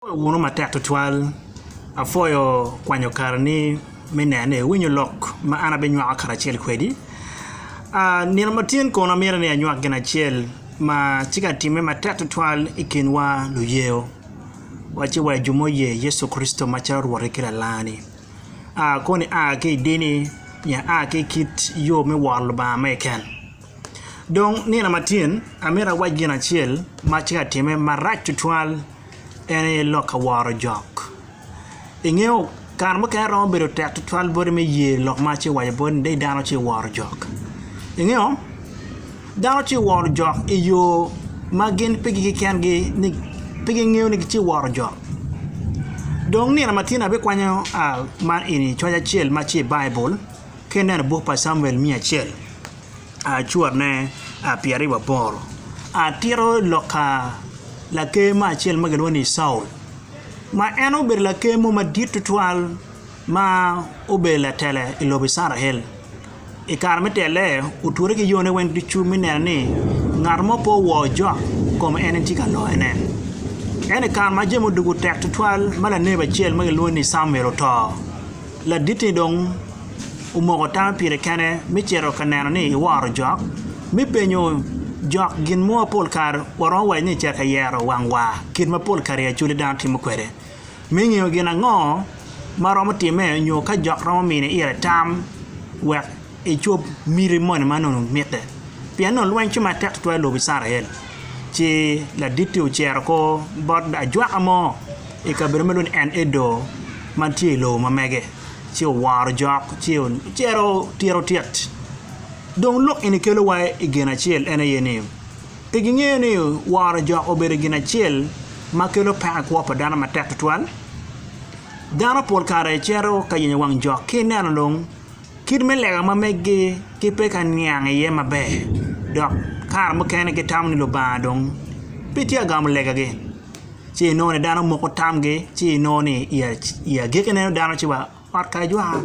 Apwoyo wunu matek tutwal. Apwoyo kwanyo kareni me neno ni iwinyo lok ma an abinywako karacel kwedi. Nino ma tin kono amito ni anywak gin acel ma tye ka timme matek tutwal i kinwa luyeyo, wacci wa jo muye Yecu Kricito macalo Rwotti ki Lalani. Koni a ki i dini nyo a ki i kit yo me woro Lubanga mege keken. Dong nino matin, amito awac gin acel ma atye ka timme marac tutwal, en aye lok ka woro jok. Ingeyo, kare mukene romo bedo tek tutwal boti me ye lok ma atye ka waco boti ni dong dano tye ka woro jok. Ingeyo, dano tye ka woro jok i yo ma gin pigi kekengi ni pe gingeyo ni gitye ka woro jok. Dong nino matin abikwanyo man eni coc acel ma tye i Baibul. ka ineno buk pa Camuel miya acel cutne pyeraryo waboro atito lok ka laker mo acel ma kilwongo ni Caul ma en obedo laker mo madit tutwal ma obedo latela i lobo Icrael i kare me tele otwere ki yone weng ducu me neno ni ngat mo pe owo ojok kom en en tye ka loyone ento i kare ma jami odwogo tek tutwal ma laner acel ma kilwongo ni Camuel oto Ladit-ti dong omoko tame pire kene me cito ka neno ni iworo jok. Me penyo jok gin mo pol kare waromo waco ni cito ka yero wang wa, kit ma pol kare i acwali dano timo kwede. Me ngeyo gin ango ma romo timme nyo ka jok romo mini ire tam wek icob miti moni ma nongo mitte. Pien nongo lweny tye matek tutwal i lobo Icrael. Ci ladit-ti ociro kor bot ajwaka mo I kabedo ma lwod En-edo ma tye i lobo ma mege ci oworo jok ci ocito tito tit. Dong lok eni kelowa i gin acel en aye ni, pe gingeyo ni woro jok obedo gin acel ma kelo peko i kwo pa dano matek tutwal. Dano pol kare cito ka yenyo wang jok ki ineno dong. Kit me lega ma meggi ki pe ka niang iye maber, dok kare mukene gitamo ni Lubanga dong pe tye ka gamo legagi. Ci inongo ni dano moko tamgi ci inongo ni i agikki ineno dano ci wa ot kare jwa.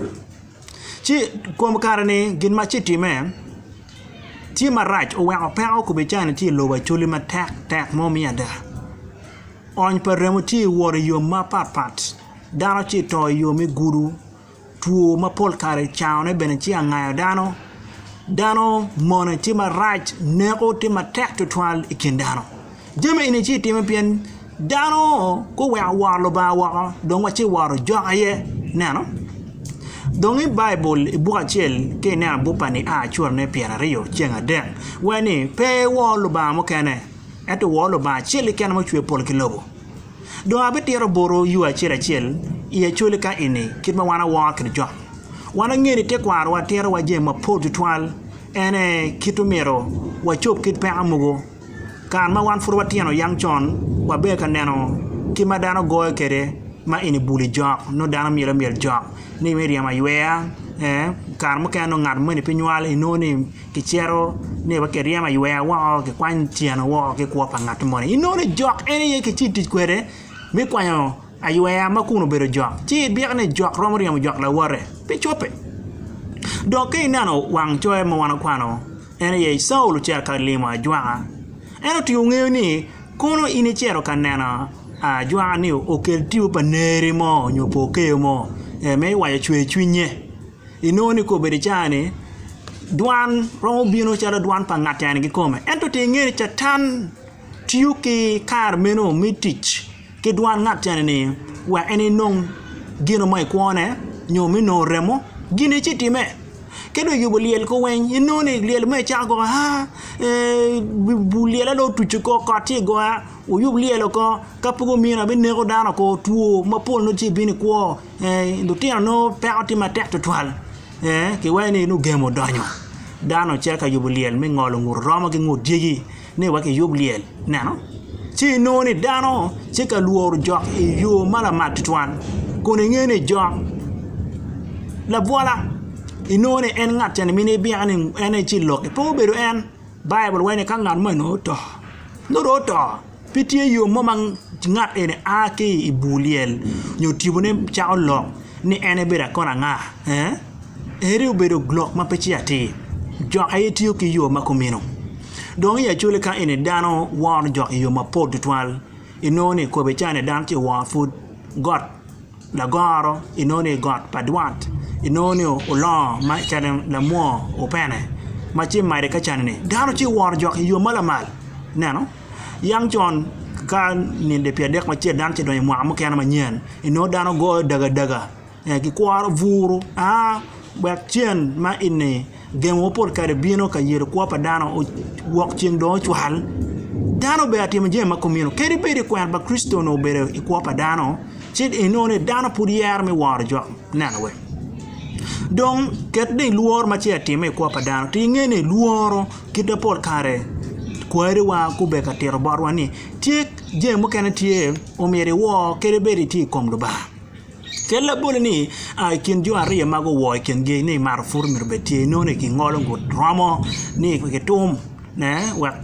Ci i kom kare-ni gin ma ci timme tye marac oweko peko kubican tye i lobo Acholi matek tek mo me ada. Ony pa remo tye wot i yo mapat pat dano ci to i yo me gudo. Two ma pol kare cangone bene ci angayo dano. Dano mone tye marac, neko tye matek twatwal i kin dano. Jami eni ci timo pien dano guweko woro Lubanga woko dong wa ci woro jok aye ineno. Dong i baibul i buk acel ka ineno buk pa nia cura me pyer aryo ceng adek waci ni pe iwor lubanga mukene ento wor Lubanga acel keken ma ocweyo pol ki lobo. Dong abitito botwu yo acel acel i Acoli ka ini, kit ma wan wawor kede cok. Wan angeyo ni tekwarowa titowa jami mapol tutwal, en aye kit omyero wacob kit peko mogo. Kare ma wan pud watino yang con wabedo ka neno kit ma dano goyo kede ma ini buli jok, nongo dano myel amyel jok ni me ryemo aywer, ee kare mukene nongo ngat moni pe nywal inongo ni Kicito ni wa kiryemo aywer woko kikwany tyeno woko ki kwo pa ngat moni inongo ni jok en aye ki ci itic kwede me kwanyo aywer ma kun obedo jok ci ibiko ni jok romo ryemo jok lawote pe cobbe dok ka ineno wang coyo ma wan wakwano en aye Caulo ocito ka limo ajwaka en otingo ngeyo ni kono in icito ka neno ajwaka ni okel tipo pa neri mo nyo po keyo mo me waco cwer cwinye. Inongo ni kobbe i caa-ni, dwan romo bino calo dwan pa ngat en kikome. Ento ti inge ni Catan tiyo ki kare meno me tic ki dwan ngat cani ni wek en enong gino mo i kwone nyo me nongo remo, gine ci time. Ka dong eyubo lyel ko weny, inongo ni lyel mere cako koko aa bul lyel-le dong otuco kok, kot ci goya, wuyub lyel oko, ka pe gumino abineko dano oko, two mapol nongo ci bino i kwo. lutino nongo peko tye matek tutwal kiwaco ni nongo gemo odonyo dano ocito ka yubo lyel me ngolo ngut romo ki ngut dyegi ni wek kiyub lyel ineno ci inongo ni dano tye ka lworo jok i yo ma lamal tutwal kun ingeyo ni jok labwola inongo ni en ngat ca mine ibino ni en aye ci lok pe obedo en Baibul waco ni ka ngat meno oto nongo dong oto. Pe tye yo mo ma ngat eni a ki i bur lyel nyo tibone cako lok ni en ebedo akon anga ee? Ere obedo lok ma pe tye atir? Jok aye tiyo ki yo ma kumeno. Dong i acoli ka eni dano woro jok i yo mapol tutwal, inongo ni kome ca ni dano ci oworo pud got lagoro, inongo ni got pa dwat, inongo ni olongo ma ca ni lamwo opene ma ci made ka ca ni dano ci oworo jok i yo ma lamal. Ineno? Yam con, ka ninde pi adek macel dano ce donyo i mwaka mukene manyen, inongo dano goyo dagadaga, gikworo buru aa wek cen ma eni gengo ma pol kare bino ka yelo kwo pa dano wok ceng dong ocwal. Dano obedo atimo jami ma kumeno. Kadi bed ni kwena pa Kricito onongo obedo i kwo pa dano, ci inongo ni dano pud yero me woro jo neno wek. Dong ket ni lworo ma ce atime i kwo pa dano, ti inge ni lworo. Kit ma pol kare kwariwa gubedo ka tito botwa ni tye jami mukene tye omyero iwor kadi bed itye i kom Lubanga. Kel labole ni i kin jo aryo ma guwor i kingi ni mato pud myero obed tye inongo ni gingolo guromo ni gitum wek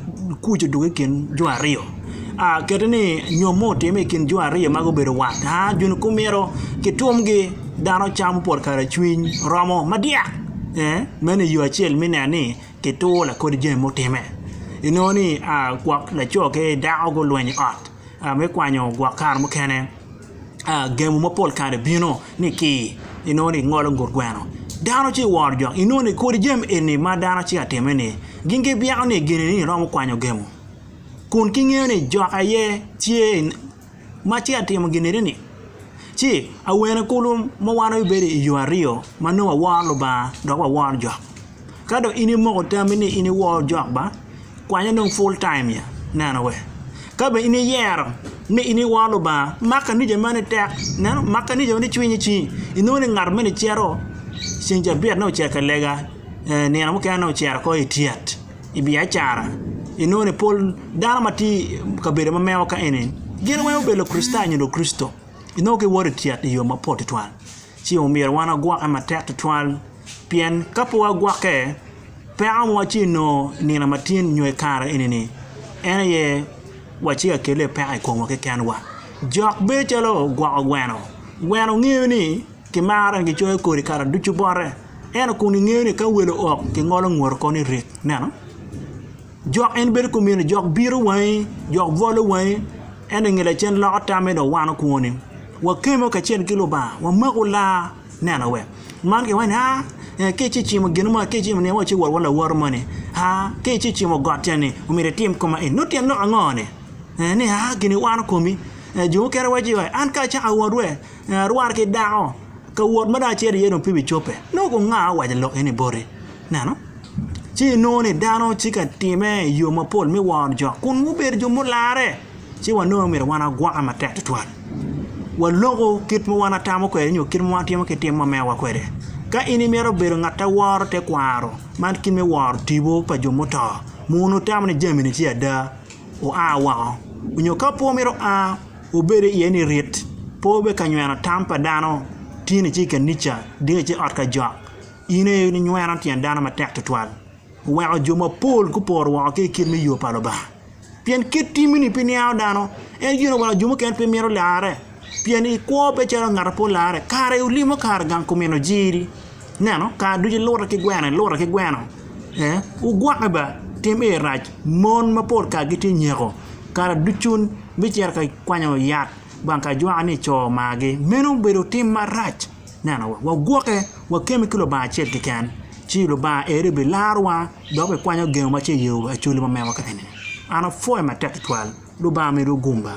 kuc odok i kin jo aryo. Kiti ni nyom mo otimme i kin jo aryo ma gubedo wat gin kumito kitumgi dano camo pol kare cwiny romo madyak meno i yo acel me neno ni ki tur lakodi jami mutime inongo ni gwok laco ki dako gulwenyo i ot me kwanyo gwok kare mukene gemo mapol kare bino ni ki inongo ni ngolo ngut gweno dano ci woro jok inongo ni kodi jami eni ma dano ci atime ni gin gibyeko ni gini ni iromo kwanyo gemo kun ki ngeyo ni jok aye tye ma ci atimo gineni-ni, ci awene kulu ma wan wabedo i yo aryo ma nongo waworo Lubanga dok waworo jo. Ka dong in imoko tami ni in iwor jo ba, kwanye dong full time ya, neno we. Ka bene in iyero ni in iwor Lubanga, mak kanica meno-ni tek, ineno, mak kanica meno-ni cwiny ci inongo ni ngat meno-ni cito ceng cabit nongo ocito ka lega, nino mukene nongo ocito ko i tyet. i biacara, inongo ni pol dano ma tye i kabedo ma meno ka eni gin weng gubedo Lukricitayo nyo Lukricito. Inongo giwoto i tyet i yo mapol tutwal. Ci omyero wan wagwokke matek tutwal pien ka pe wagwokke, peko mogo ci inongo i nino ma tin nyo i kare eni-ni en aye wacika kelo iye peko i komwa kekenwa. Jok bedo calo gwoko gweno, gweno ngeyo ni. Kimaro en, kicoyo kodi kare ducu bote. Ento kun ingeyo ni ka welo ok, kingolo ngute koni i rek. Ineno? Jok en bedo kumeno, jok biro wangi, jok bwolo wangi, ento inge lacen loko tamme dong wano kwoni. Wakemo kacel ki Lubanga, wamaku laa. Ineno we? Man kiwaco ni, aa, ee, ka ice cimo gin mo, ka icimo ni, waci wot wa lawote moni, aa, ka ice cimo got cani, omyero itim kong ma eni. Nongo tyen lok ango-ni? Ee, ni, aa, gini wano komi. Ee, jo mukene waco ni, an ka acako awot we, En arwar ki dako, ka wot ma dong acito iye dong pe bicobbe. Nongo kong nga owaco lok eni boti? Neno, ci inongo ni dano tye ka time i yo mapol me woro jo kun gubedo jo mularre, ci wanongo ni myero wan wagwokke matek tutwal. Waloku kit ma wan watamo kwede nyo kit ma watimo ki tim ma mewa kwede. Ka in imito bedo ngat a woro tekwaro man ki me woro tipo pa jo muto, mono itamo ni jami-ni tye ada? Oa woko? Nyo ka pe omito a, Wubedo iye ni rit, pe wube ka nyweno tam pa dano, tin ice i kanica, ding ice i ot ka jok, in aye inyweno tyen dano matek twatwal. Wuweko jo mapol gupor woko ki i kit me yo pa Lubanga. Pien kit timmi-ni pe niango dano, en gin oweko jo mukene pe mito larre. Pien ikwo pe calo ngat ma pe olarre, kara i olimo kare gang kumino jiri. Neno, kare ducu ilute ki gweno, ilute ki gweno ee, wugwokke ba, tim aye rac, mon mapol kare gitye ka nyeko, kare ducu bicito ka kwanyo yat bang ka ajwaka ni co omagi, meno obedo tim marac, neno wagwokke, wakemme ki Lubanga acel keken, ci Lubanga eri bilarowa dok bikwanyo gengo ma tye i yo Acholi ma mewa kare-ni, an apwoyo matek tutwal, Lubanga omedwu gumba.